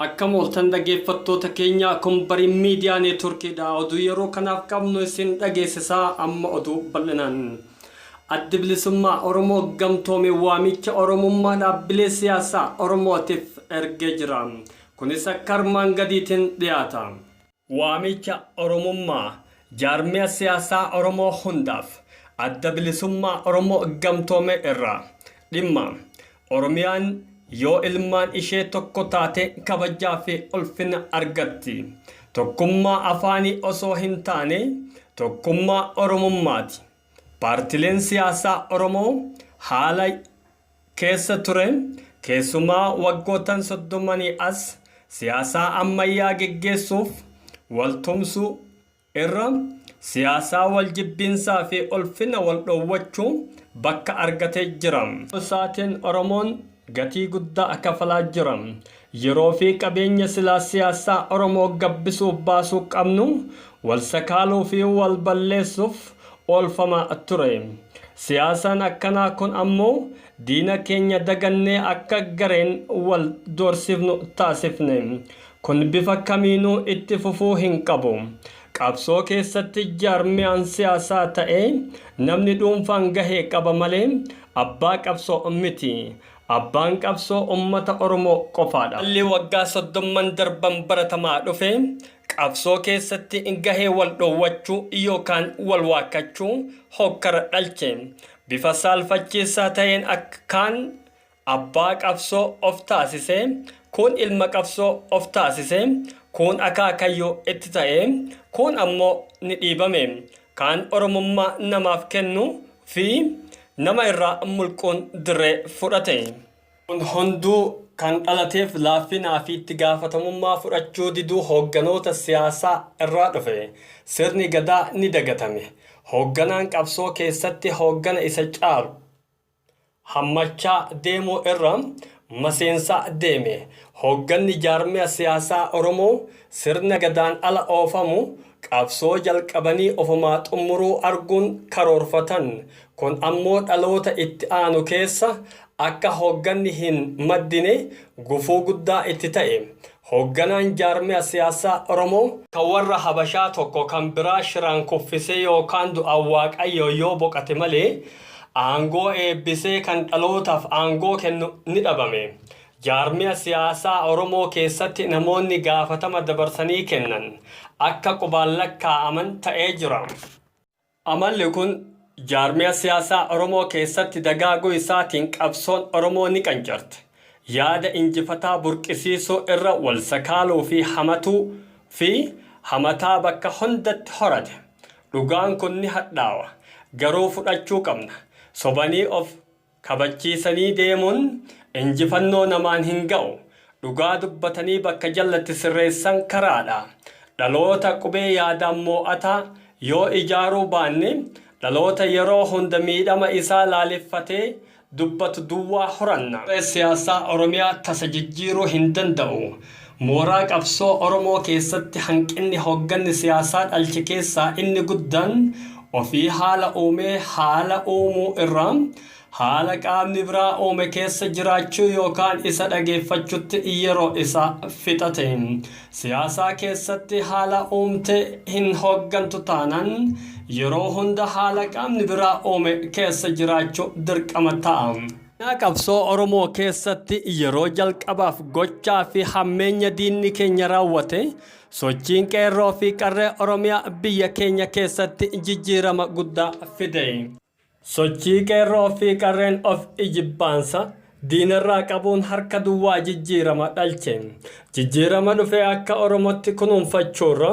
Akkam ooltan dhageeffattoota keenya kun bari miidiyaa neetworkii dha oduu yeroo kanaaf qabnu isin dhageessisaa amma oduu bal'inaan. Addi bilisummaa Oromoo gamtoome waamicha Oromummaa dhaabbilee siyaasaa Oromootiif ergee jira. Kunis akka armaan gadiitiin dhiyaata. Waamicha Oromummaa Jaarmiya Siyaasaa Oromoo hundaaf Adda Bilisummaa Oromoo Gamtoomee irraa Dhimma, Oromiyaan yoo ilmaan ishee tokko taate kabajaa fi ulfina argatti. Tokkummaa afaanii osoo hin taane tokkummaa Oromummaati. Paartileen siyaasaa Oromoo haala. keessa ture, keessumaa waggoottan soddomanii as siyaasaa ammayyaa geggeessuuf wal tumsuu irra siyaasaa wal jibbiinsaa fi ulfina wal dhoowwachuu bakka argatee jira. Ta'uu isaatiin Oromoon gatii guddaa kafalaa jira. Yeroo fi qabeenya silaa siyaassaa Oromoo gabbisuuf baasuu qabnu wal sakaaluu fi wal balleessuuf oolfamaa ture. Siyaasaan akkanaa kun ammoo diina keenya dagannee akka gareen wal doorsifnu taasifne. Kun bifa kamiinuu itti fufuu hin qabu. Qabsoo keessatti jaarmiyaan siyaasaa ta'ee namni dhuunfaan gahee qaba malee abbaa qabsoo miti. Abbaan qabsoo ummata Oromoo qofaadha. Haalli waggaa soddomman darban baratamaa dhufe qabsoo keessatti gahee wal dhoowwachuu yookaan wal waakkachuu hokkara dhalche. Bifa saalfachiisaa ta'een akka kaan abbaa qabsoo of taasise, kuun ilma qabsoo of taasise, kuun akaakayyuu itti ta'e, kuun ammoo ni dhiibame. Kan Oromummaa namaaf kennu fi nama irraa mulquun dirree fudhate. Kun hunduu kan dhalateef laaffinaa fi itti gaafatamummaa fudhachuu diduu hoogganoota siyaasaa irraa dhufe. Sirni Gadaa ni dagatame. Hoogganaan qabsoo keessatti hooggana isa caalu. hammachaa deemuu irra maseensaa deeme. Hoogganni jaarmiya siyaasaa Oromoo sirna Gadaan ala oofamu qabsoo jalqabanii ofumaa xummuruu arguun karoorfatan. Kun ammoo dhaloota itti aanu keessa akka hoogganni hin maddine gufuu guddaa itti ta'e. Hoogganaan jaarmiya siyaasaa Oromoo. Kan warra Habashaa tokko kan biraa shiraan kuffisee yookaan du'aan Waaqayyoo yoo boqate malee aangoo eebbisee kan dhalootaaf aangoo kennu ni dhabame. Jaarmiya siyaasaa Oromoo keessatti namoonni gaafatama dabarsanii kennan akka qubaan lakkaa'aman ta'ee jira. Amalli kun jaarmiya siyaasaa Oromoo keessatti dagaaguu isaatiin qabsoon Oromoo ni qancarte. Yaada injifataa burqisiisuu irra wal sakaaluu fi hamatuu fi hamataa bakka hundatti horate. Dhugaan kun ni hadhaawa. Garuu fudhachuu qabna. Sobanii of Kabachiisanii deemuun injifannoo namaan hin ga'u. Dhugaa dubbatanii bakka jallatti sirreessan karaadha. Dhaloota qubee yaadaan moo'ataa yoo ijaaruu baanne dhaloota yeroo hunda miidhama isaa laaleffatee dubbatu duwwaa horanna. Siyaasaa Oromiyaa tasa jijjiiruu hin danda'u. Mooraa qabsoo Oromoo keessatti hanqinni hoogganni siyaasaa dhalche keessaa inni guddaan ofii haala uumee haala uumuu irra haala qaamni biraa uume keessa jiraachuu yookaan isa dhageeffachutti yeroo isaa fixate. Siyaasaa keessatti haala uumte hin hooggantu taanaan yeroo hunda haala qaamni biraa uume keessa jiraachuu dirqama ta'a. Seenaa qabsoo Oromoo keessatti yeroo jalqabaaf gochaa fi hammeenya diinni keenya raawwate sochiin qeerroo fi qarree Oromiyaa biyya keenya keessatti jijjiirama guddaa fide. Sochii qeerroo fi qarreen of ijibbaansa diinarraa qabuun harka duwwaa jijjiirama dhalche. Jijjiirama dhufe akka Oromootti kunuunfachuurra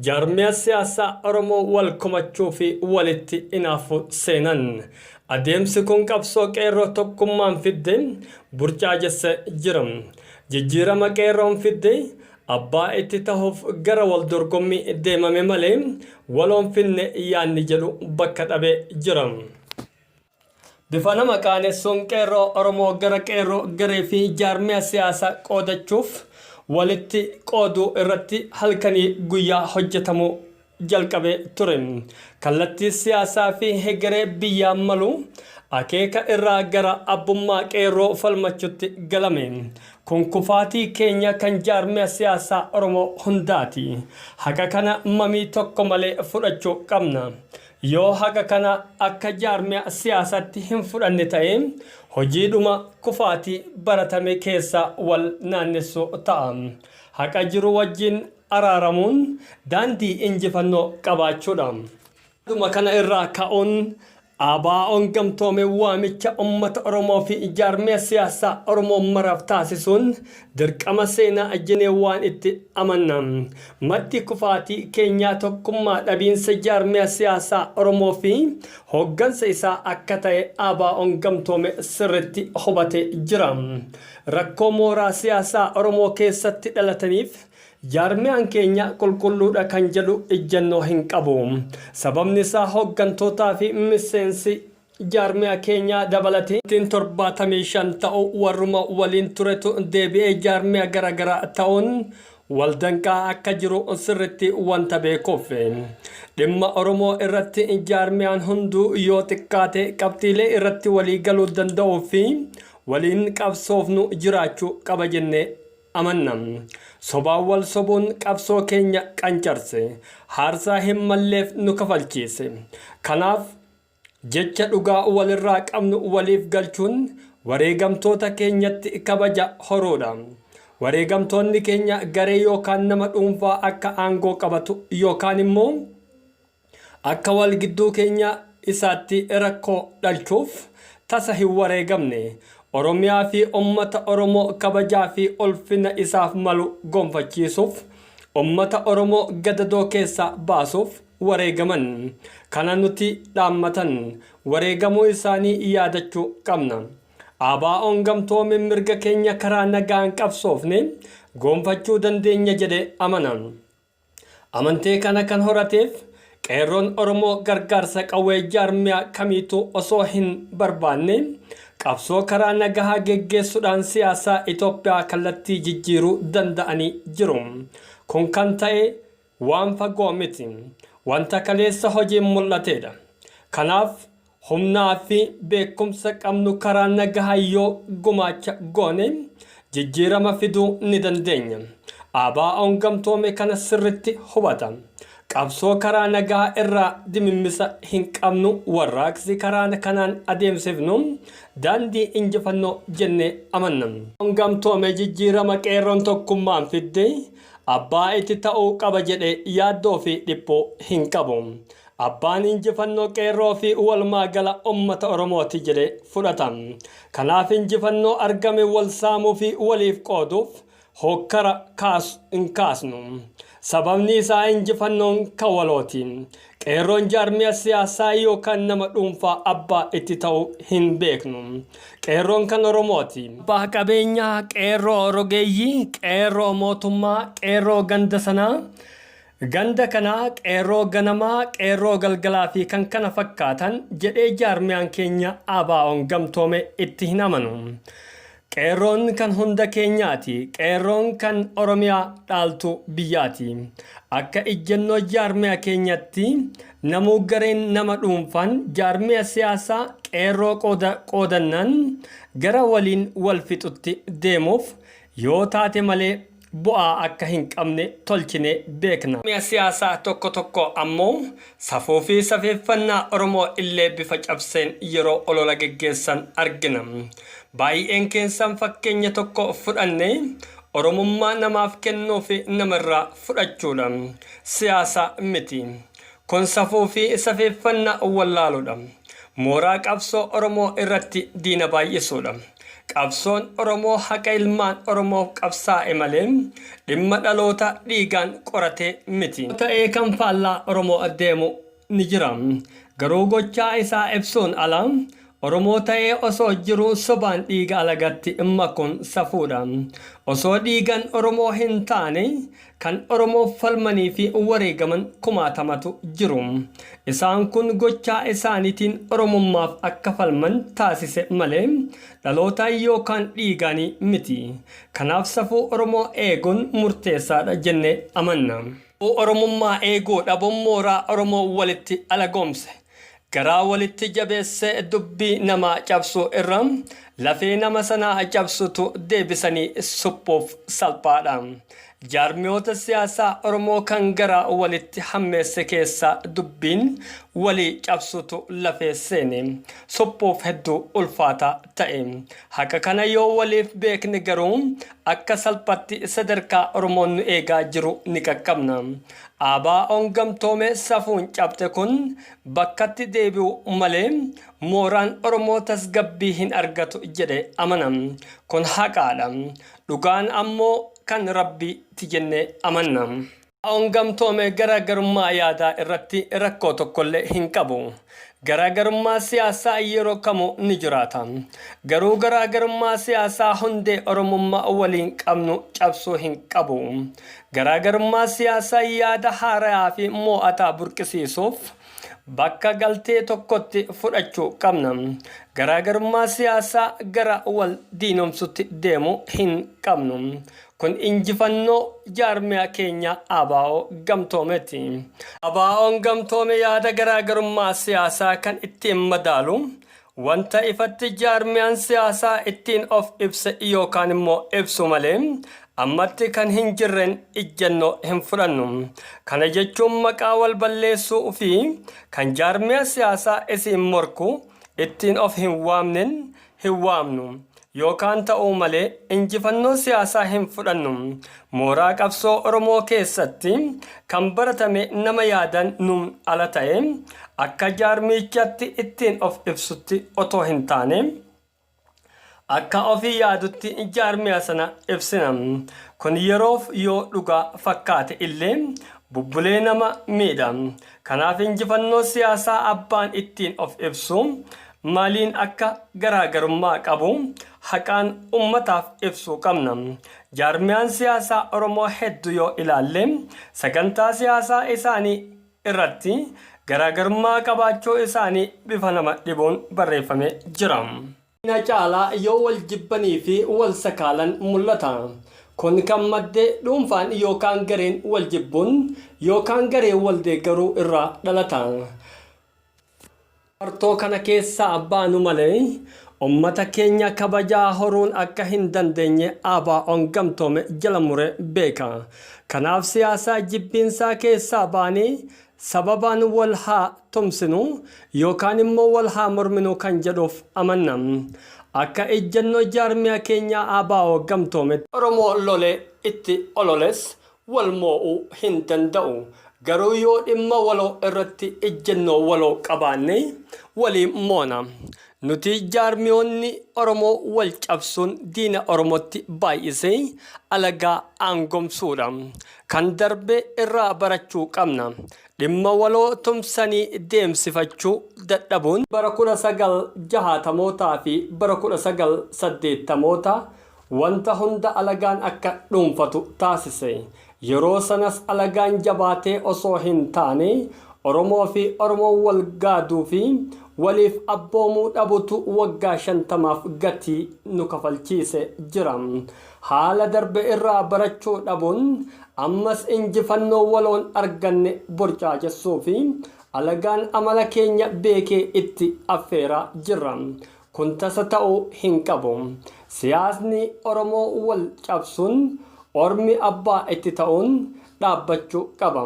jaarmiya siyaasaa Oromoo wal komachuu fi walitti inaafu seenan. Adeemsi kun qabsoo Qeerroo tokkummaan fidde burjaajesse jira. Jijjiirama Qeerroon fidde abbaa itti tahuuf gara wal dorgommii deemame malee waloon finne yaadni jedhu bakka dhabee jira. Bifa nama qaanessuun Qeerroo Oromoo gara Qeerroo garee fi jaarmiya siyaasaa qoodachuuf walitti qooduu irratti halkanii guyyaa hojjetamuu jalqabe ture. Kallattii siyaasaa fi hegeree biyyaa malu akeeka irraa gara abbummaa qeerroo falmachutti galame. Kun kufaatii keenya kan jaarmiya siyaasaa Oromoo hundaati. Haqa kana mamii tokko malee fudhachuu qabna. Yoo haqa kana akka jaarmiya siyaasatti hin fudhanne ta'e hojiidhuma kufaatii baratame keessa wal naannessu ta'a. Haqa jiru wajjin araaramuun daandii injifannoo qabaachuudha. Haaluma kana irraa ka'uun ABOn gamtoome waamicha ummata Oromoo fi jaarmiya siyaasaa Oromoo maraaf taasisuun dirqama seenaa jenee waan itti amanna. Maddi kufaatii keenyaa tokkummaa dhabiinsa jaarmiya siyaasaa Oromoo fi hooggansa isaa akka ta'e ABOn gamtoome sirritti hubatee jira. Rakkoo mooraa siyaasaa Oromoo keessatti dhalataniif, Jaarmiyaan keenya qulqulluudha kan jedhu ijjannoo hin qabu. Sababni isaa hooggantootaa fi miseensi jaarmiyaa keenyaa dabalatee ittiin 75 ta'u warruma waliin turetu deebi'ee jaarmiyaa gara garaa ta'uun wal danqaa akka jiru sirritti wanta beekuuf. Dhimma Oromoo irratti jaarmiyaan hunduu yoo xiqqaate qabxiilee irratti walii galuu danda'uu fi waliin qabsoofnu jiraachuu qaba jennee amanna. Sobaan wal sobuun qabsoo keenya qancarse. Haarsaa hin malleef nu kafalchiise. Kanaaf, jecha dhugaa walirraa qabnu waliif galchuun wareegamtoota keenyatti kabaja horuudha. Wareegamtoonni keenya garee yookaan nama dhuunfaa akka aangoo qabatu yookaan immoo Akka wal gidduu keenya isaatti rakkoo dhalchuuf tasa hin wareegamne. Oromiyaa fi ummata Oromoo kabajaa fi ulfina isaaf malu gonfachiisuuf, ummata Oromoo gadadoo keessaa baasuuf wareegaman. Kana nuti dhaammatan wareegamuu isaanii yaadachuu qabna. ABOn gamtoome mirga keenya karaa nagaan qabsoofne goonfachuu dandeenya jedhee amana. Amantee kana kan horateef Qeerroon Oromoo gargaarsa qawwee jaarmiyaa kamiituu osoo hin barbaanne qabsoo karaa nagahaa geggeessudhaan siyaasaa Itoophiyaa kallattii jijjiiruu danda'anii jiru. Kun kan ta'e waan fagoo miti. Wanta kaleessa hojiin mul'ateedha. Kanaaf Humnaa fi beekumsa qabnu karaa nagahaan yoo gumaacha goone jijjiirama fiduu ni dandeenya. ABOn gamtoome kana sirritti hubata. Qabsoo karaa nagahaa irraa dimimmisa hin qabnu warraaqsi karaa kanaan adeemsifnu daandii injifannoo jennee amanna. ABOn gamtoome jijjiirama qeerroon tokkummaan fidde abbaa itti ta'uu qaba jedhee yaaddoo fi dhiphuu hin qabu. Abbaan injifannoo Qeerroo fi walumaa gala ummata Oromooti jedhee fudhata. Kanaaf injifannoo argame wal saamuu fi waliif qooduuf hookkara kaasu hin kaasnu. Sababni isaa injifannoon ka walooti. Qeerroon jaarmiya siyaasaa yookaan nama dhuunfaa abbaa itti ta'uu hin beeknu. Qeerroon kan Oromooti. Abbaa qabeenyaa, Qeerroo rogeeyyii, Qeerroo mootummaa, Qeerroo ganda sanaa, Ganda kana Qeerroo Ganamaa, Qeerroo Galgalaa fi kan kana fakkaatan jedhee jaarmiyaan keenya ABOn gamtoome itti hin amanu. Qeerroon kan hunda keenyaati. Qeerroon kan Oromiyaa dhaaltu biyyaati. Akka ijjannoo jaarmiya keenyatti namuu gareen nama dhuunfaan jaarmiya siyaasaa Qeerroo qooda qoodannaan gara waliin wal fixutti deemuuf yoo taate malee bu'aa akka hin qabne tolchinee beekna. Mi'a siyaasaa tokko tokko ammoo safuu fi safeeffannaa Oromoo illee bifa cabseen yeroo olola geggeessan argina. Baayi'een keessan fakkeenya tokko fudhannee Oromummaa namaaf kennuu fi nama irraa fudhachuu dha. Siyaasa miti. Kun safuu fi safeeffannaa wallaaluu dha. Mooraa qabsoo Oromoo irratti diina baay'isuu dha. Qabsoon Oromoo haqa ilmaan Oromoof qabsaa'e malee dhimma dhaloota dhiigaan qoratee miti. ta'ee kan faallaa Oromoo deemu ni jira. Garuu gochaa isaa ibsuun ala Oromoo ta'ee osoo jiruu sobaan dhiiga alagaatti makuun safuudha. Osoo dhiigan Oromoo hin taane Kan Oromoof falmanii fi wareegaman kumaatamatu jiru. Isaan kun gochaa isaaniitiin Oromummaaf akka falman taasise malee dhalootaan yookaan dhiigaanii miti. Kanaaf safuu Oromoo eeguun murteessaadha jennee amanna. Safuu Oromummaa eeguu dhabuun mooraa Oromoo walitti alagoomse. Garaa walitti jabeessee dubbii namaa cabsuu irra lafee nama sanaa cabsutu deebisanii suphuuf salphaadha. Jaarmiyoota siyaasaa Oromoo kan garaa walitti hammeesse keessaa dubbiin walii cabsutu lafee seene suphuuf hedduu ulfaataa ta'e. Haqa kana yoo waliif beekne garuu akka salphatti sadarkaa Oromoon nu eegaa jiru ni qaqqabna. ABOn gamtoome safuun cabxe kun bakkatti deebi'u malee mooraan Oromoo tasgabbii hin argatu jedhe amana. Kun haqaadha. Dhugaan ammoo kan Rabbi ti jennee amanna. ABOn gamtoome garaagarummaa yaadaa irratti rakkoo tokkollee hin qabu. Garaagarummaa siyaasaa yeroo kamuu ni jiraata. Garuu garaagarummaa siyaasaa hundee Oromummaa waliin qabnu cabsuu hin qabu. Garaagarummaa siyaasaa yaada haarayaa fi moo'ataa burqisiisuuf bakka galtee tokkotti fudhachuu qabna. Garaagarummaa siyaasaa gara wal diinomsutti deemu hin qabnu. Kun injifannoo jaarmiyaa keenya ABO gamtoomeeti. ABOn gamtoome yaada garaagarummaa siyaasaa kan ittiin madaalu, wanta ifatti jaarmiyaan siyaasaa ittiin of ibse yookaan immoo ibsu malee ammatti kan hin jirreen ijjannoo hin fudhannu. Kana jechuun maqaa wal balleessuu fi kan jaarmiyaa siyaasaa isiin morku ittiin of hin waamneen hin waamnu yookaan ta'uu malee injifannoo siyaasaa hin fudhannu. Mooraa qabsoo Oromoo keessatti kan baratame nama yaadaan nuun ala ta'ee akka jaarmiyichatti ittiin of ibsutti otoo hin taane akka ofii yaadutti jaarmiya sana ibsina. Kun yeroof yoo dhugaa fakkaate illee bubbulee nama miidha. Kanaaf injifannoo siyaasaa abbaan ittiin of ibsu maaliin akka garaagarummaa qabu haqaan ummataaf ibsuu qabna. Jaarmiyaan siyaasaa Oromoo heddu yoo ilaalle sagantaa siyaasaa isaanii irratti garaagarummaa qabaachuu isaanii bifa nama dhibuun barreeffamee jira. na caalaa yoo wal jibbanii fi wal sakaalan mul'ata. Kun kan madde dhuunfaan yookaan gareen wal jibbuun yookaan gareen wal deeggaruu irraa dhalata. Martoo kana keessaa baanu malee ummata keenya kabajaa horuun akka hin dandeenye ABOn gamtoome jala muree beeka. Kanaaf siyaasa jibbiinsaa keessaa baanee Sababaan wal haa tumsinu yookaan immoo wal haa morminu kan jedhuuf amanna. Akka ejjennoo jaarmiyaa keenyaa ABO gamtoometti. Oromoo lolee itti ololes wal moo'uu hin danda'u. Garuu yoo dhimma waloo irratti ejjennoo waloo qabaanne waliin moona. Nuti jaarmiyoonni Oromoo wal cabsuun diina Oromotti baay'isee alagaa aangomsuudha. Kan darbe irraa barachuu qabna. Dhimma waloo tumsanii deemsifachuu dadhabuun. Bara 1960mootaa fi bara 1980mootaa wanta hunda alagaan akka dhuunfatu taasise. Yeroo sanas alagaan jabaatee osoo hin taane Oromoo fi Oromoon wal gaaduu fi waliif abboomuu dhabutu waggaa 50f gatii nu kafalchiise jira. Haala darbe irraa barachuu dhabuun ammas injifannoo waloon arganne burjaajessuuf alagaan amala keenya beekee itti affeeraa jirra. Kun tasa ta'uu hin qabu. Siyaasni Oromoo wal cabsuun ormi abbaa itti ta'uun dhaabbachuu qaba.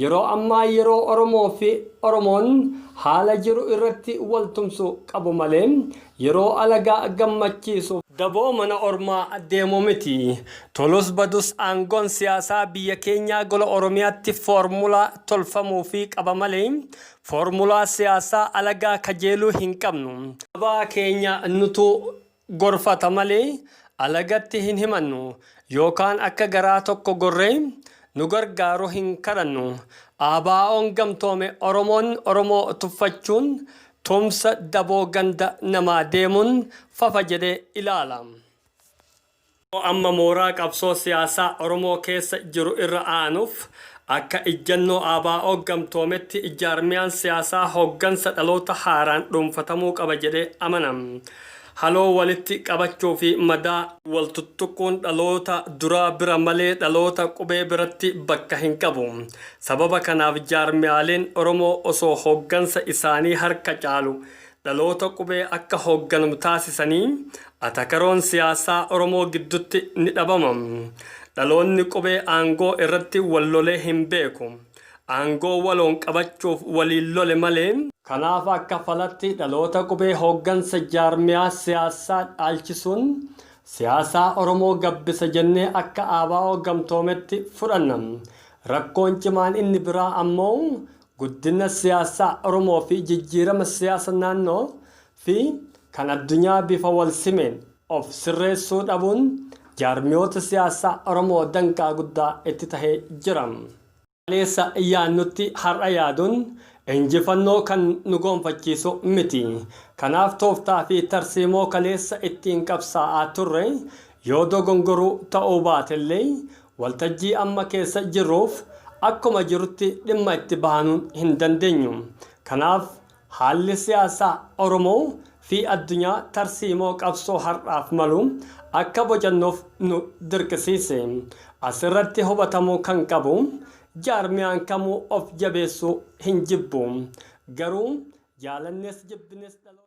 Yeroo ammaa yeroo Oromoo fi Oromoon haala jiru irratti wal tumsu qabu malee yeroo alagaa gammachiisu fi daboo mana ormaa deemu miti. Tolus badus aangoon siyaasaa biyya keenyaa gola Oromiyaatti foormulaa tolfamuufii qaba malee foormulaa siyaasaa alagaa kajeeluu hin qabnu. Sabaa keenya nutuu gorfata malee alagatti hin himannu, yookaan akka garaa tokko gorree nu gargaaru hin kadhannu. ABOn gamtoome Oromoon Oromoo tuffachuun tumsa daboo ganda namaa deemuun fafa jedhee ilaala. Oromoo amma mooraa qabsoo siyaasaa Oromoo keessa jiru irra aanuuf akka ijjannoo ABOn gamtoometti jaarmiyaan siyaasaa hoggansa dhaloota haaraan dhuunfatamuu qaba jedhee amana. Haloo walitti qabachuu fi madaa wal tuttuquun dhaloota duraa bira malee dhaloota qubee biratti bakka hin qabu. Sababa kanaaf jaarmiyaaleen Oromoo osoo hoggansa isaanii harka caalu dhaloota qubee akka hoogganamu taasisanii atakaroon siyaasaa Oromoo giddutti ni dhabama. Dhaloonni qubee aangoo irratti wal lolee hin beeku. Aangoo waloon qabachuuf waliin lole malee. Kanaaf akka falatti dhaloota qubee hooggansa jaarmiyaa siyaasaa dhaalchisuun siyaasaa Oromoo gabbisa jennee akka ABO gamtoometti fudhanna. Rakkoon cimaan inni biraa ammoo Guddina siyaasaa Oromoo fi jijjiirama siyaasa naannoo fi kan addunyaa bifa wal simeen of sirreessuu dhabuun jaarmiyoota siyaasaa Oromoo danqaa guddaa itti tahee jira. Kaleessa yaadnutti har'a yaaduun injifannoo kan nu goonfachiisu miti. Kanaaf tooftaa fi tarsiimoo kaleessa ittiin qabsaa'aa turre yoo dogongoruu ta'uu baatellee Waltajjii amma keessa jirruuf akkuma jirutti dhimma itti bahanuu hin dandeenyu. Kanaaf haalli siyaasaa Oromoo fi addunyaa tarsiimoo qabsoo har'aaf malu akka bocannuuf nu dirqisiise. As irratti hubatamuu kan qabu jaarmiyaan kamuu of jabeessuu hin jibbu. Garuu jaalannes jibbinis dhaloota.